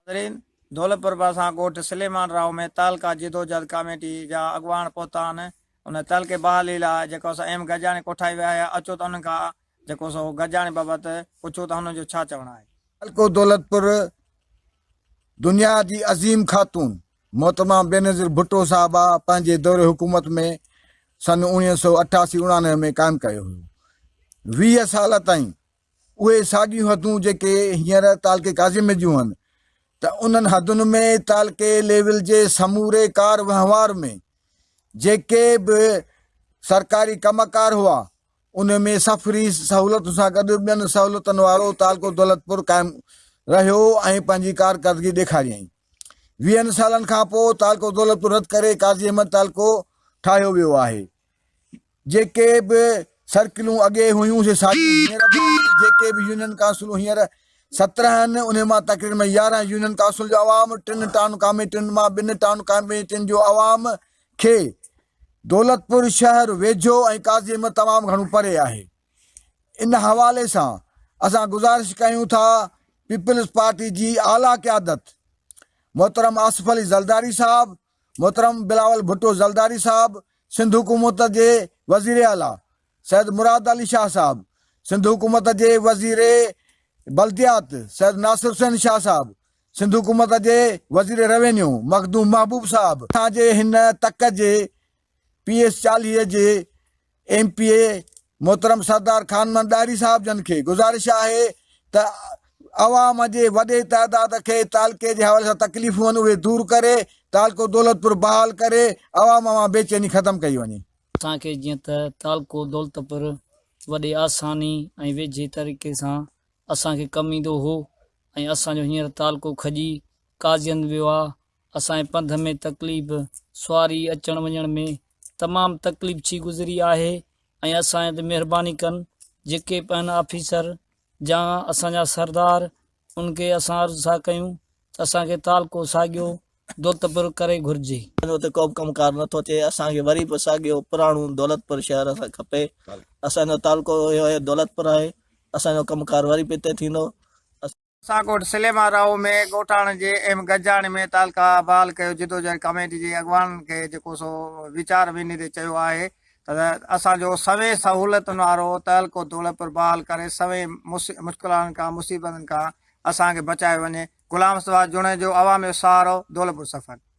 ناظرين! دولت پرڀا سان ڳوٺ سليمان راهو ۾ تعلقه جدوجهد ڪاميٽي جا اڳواڻ پهتا آهن ان تعلقي بحالي لاء جيڪو سو ايم گڏجاڻي ڪوٺائي ويا آهي اچو ته انهن کان جيڪو سو گڏجاڻي بابت پڇون ته هنن جو ڇا چوڻ آهي. تعلقو دولتپور دنيا جي عظيم خاتون محترمه بينظير ڀٽو صاحبه پنهنجي دور حڪومت ۾ سن اوڻيهه سؤ اٺاسي اوڻانوي ۾ قائم ڪيو هيو ويهه سال تائين اهي ساڳيون حدون جيڪي هينئر تعلقي قاضي ۾ جون هن ته انهن حدن ۾ تعلقي ليول جي سموري ڪار وهنوار ۾ جيڪي به سرڪاري ڪم ڪار هئا ان ۾ سفري سهولتن سان گڏ ٻين سهولتن وارو تعلقو دولتپور قائم رهيو ۽ پنهنجي ڪارڪردگي ڏيکاريائين. ويهن سالن کانپوء تعلقو دولتپور رد ڪري قاضي احمد تعلقو ٺاهيو ويو آهي. جيڪي به سرڪلون اڳي هيون سي ساڳيون هينئر به آهن ۽ جيڪي به يونين ڪائونسلون هينئر سترهن آهن انهن مان تقرير ۾ يارهن يونين ڪائونسل جو عوام ٽن ٽائون ڪاميٽين مان ٻن ٽائون ڪاميٽين جو عوام کي دولتپور شهر ويجهو ۽ قاضي احمد تمام گهڻو پري آهي ان حوالي سان اسان گذارش ڪيون ٿا پيپلز پارٽي جي اعليٰ قيادت محترم آصف علي زرداري صاحب محترم بلاول ڀٽو زلداري صاحب، سنڌ حڪومت جي وزير اعليٰ سيد مراد علي شاهه صاحب، سنڌ حڪومت جي وزير بلديات سيد ناصر حسين شاهه صاحب، سنڌ حڪومت جي وزير روينيو مخدوم محبوب صاحب، اسان جي هن تڪ جي پي ايس چاليهه جي ايم پي اي محترم سردار خان محمد ڏاهري صاحب جن کي گذارش آهي ته عوام جي وڏي تعداد کي تعلقي جي حوالي سان تڪليفون آهن اهي دور ڪري تعلقو دولتپور بحال ڪري عوام مان بيچيني ختم ڪئي وڃي. اسان کي جيئن ته تعلقو دولتپور وڏي آساني ۽ ويجهي طريقي سان اسان کي ڪم ايندو هو ۽ اسان جو هينئر تعلقو کڄي قاضين ويو آهي اسان جي پنڌ ۾ تڪليف، سواري اچڻ وڃڻ ۾ تمام تڪليف ڇي گذري آهي ۽ اسان جي تي مهرباني ڪن جيڪي به آهن آفيسر جا اسان جا سردار ان کي اسان عرض ٿا ڪيون ته اسان کي تعلقو ساڳيو دولتپور ڪري گهرجي. اسان جو اتي ڪوبه ڪم ڪار نه ٿو اچي اسان کي وري به ساڳيو پراڻو دولتپور شهر اسان کي کپي اسان جو تعلقو اهو هي دولتپور آهي اسان جو ڪم ڪار وري به اتي ٿيندو. سان ڳوٺ سليمان راهو ۾ ڳوٺاڻن جي ايم گڏجاڻي ۾ تعلقه بحال ڪيو جدوجهد ڪاميٽي جي اڳواڻن کي جيڪو سو ويچار ويندي چيو آهي ته اسان جو سوين سهولتن وارو تعلقو دولتپور بحال ڪري سوين مشڪلاتن کان مصيبتن کان اسان کي بچايو وڃي غلام مصطفيٰ جوڻيجو عوامي سهارو دولتپور سفر.